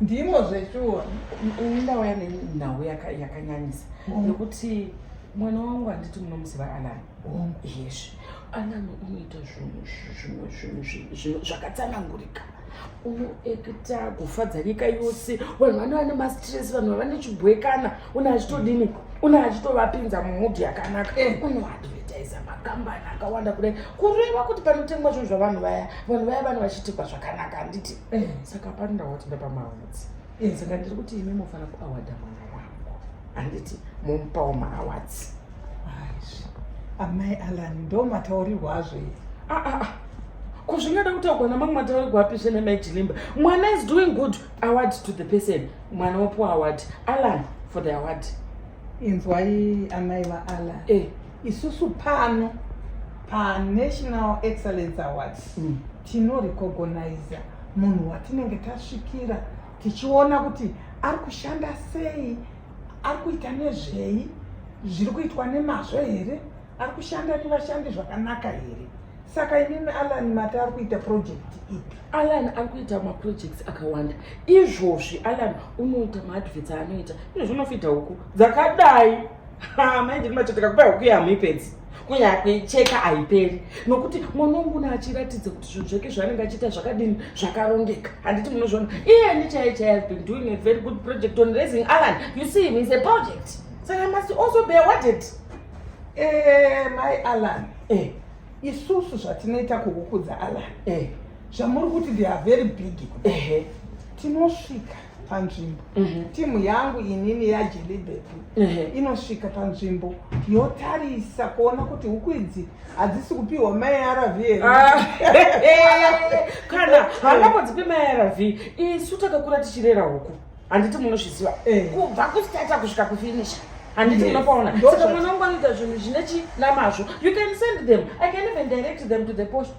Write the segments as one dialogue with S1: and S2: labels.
S1: ndimo
S2: zveshuwa ndauya
S1: nenhau yakanyanyisa oh. nekuti mwana wangu handiti munomuziva alani oh. yes alani unoita zvinhu zvimwe zvinhu zvakatsanangurika unoekita kufadza nyika yose vanhu vane vane mastress vanhu vavane chibwekana une achitodini une achitovapinza mumudhi yakanaka eh. unoadvertisa makambani akawanda kudai kureva kuti panotengwa zvinhu zvavanhu vaya vanhu vaya vane vachiitikwa zvakanaka handiti Eh, saka pano ndawati ndapamaawadzi eh, saka ndiri kuti imi mofana kuawadha mwana wangu handiti momupawo maawadzi aizvi
S2: amai alan ndo mataurirwa azvo ii ah, ah, ah. ko zvingada
S1: kutaurwa namamwe mataurirwa api zvene mai chilimba mwana is doing good award to the person mwana wopiwa award alan for the award inzwai
S2: amai vaalan eh. isusu pano panational excellence awards mm. Tinorecognaiza munhu watinenge tasvikira tichiona kuti ari kushanda sei, ari kuita nezvei, zviri kuitwa nemazvo here, ari kushanda nevashandi zvakanaka here. Saka imimi Alan mati ari kuita project ipi? Alan ari kuita
S1: maprojects akawanda. Izvozvi Alan unoita maadverts aanoita. Izvozvi unofidha huku dzakadai. Ha, mai ndiri matoto kakupa huku yamuipedzi kunyaya kuicheka haiperi nokuti mwana wangu na achiratidza kuti zvinhu zvake zvaanenge achiita zvakadini zvakarongeka handiti munozviona iyeni chaiye chaiye has been doing a very good project on raising alan you see him is a project saka so must also be awarded eh,
S2: mai alan eh. isusu zvatinoita kuhukudza alan eh. zvamuri kuti they are very big eh. tinosvika panzvimbo mhm. timu yangu inini yajelibeti mhm. inosvika panzvimbo yotarisa kuona kuti huku idzi hadzisi kupiwa maarv here ah.
S1: kana hangambodzipe maarv isu takakura tichirera huku handiti munozviziva eh. kubva kustata kusvika kufinisha handiti munopaona saka mwana wangu anoita zvinhu zvine chinamazvo you can send them i can even direct them to the post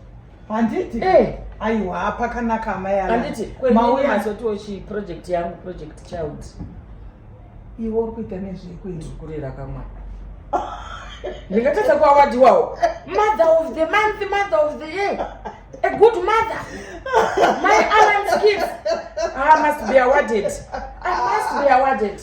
S1: handiti eh.
S2: aiwa pakanaka amai handiti kwemauyemazotiwo
S1: chi project yangu project child
S2: iwe uri kuita nezvekuikurira kamwana
S1: ndingatadza kuawadiwawo mother of the month mother of the year a good mother my alan skills i ah, must be awarded i must be awarded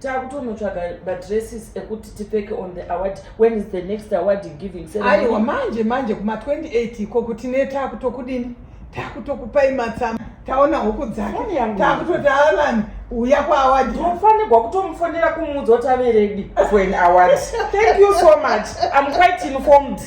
S1: takutonotsvaga madresses ekuti tipfeke on the award when is the next award giving aiwa manje manje
S2: kuma28 iko kuti ne takutokudini takutokupai matsama taona huku dzake takutoti alan uya kwaaward tofanirwa kutomufonera
S1: kumuudza kuti averedi for an award thank you so much im quite informed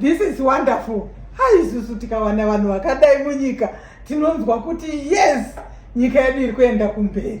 S2: This is wonderful. Hai isusu tikawana vanhu vakadai munyika tinonzwa kuti yes nyika yedu iri kuenda kumberi.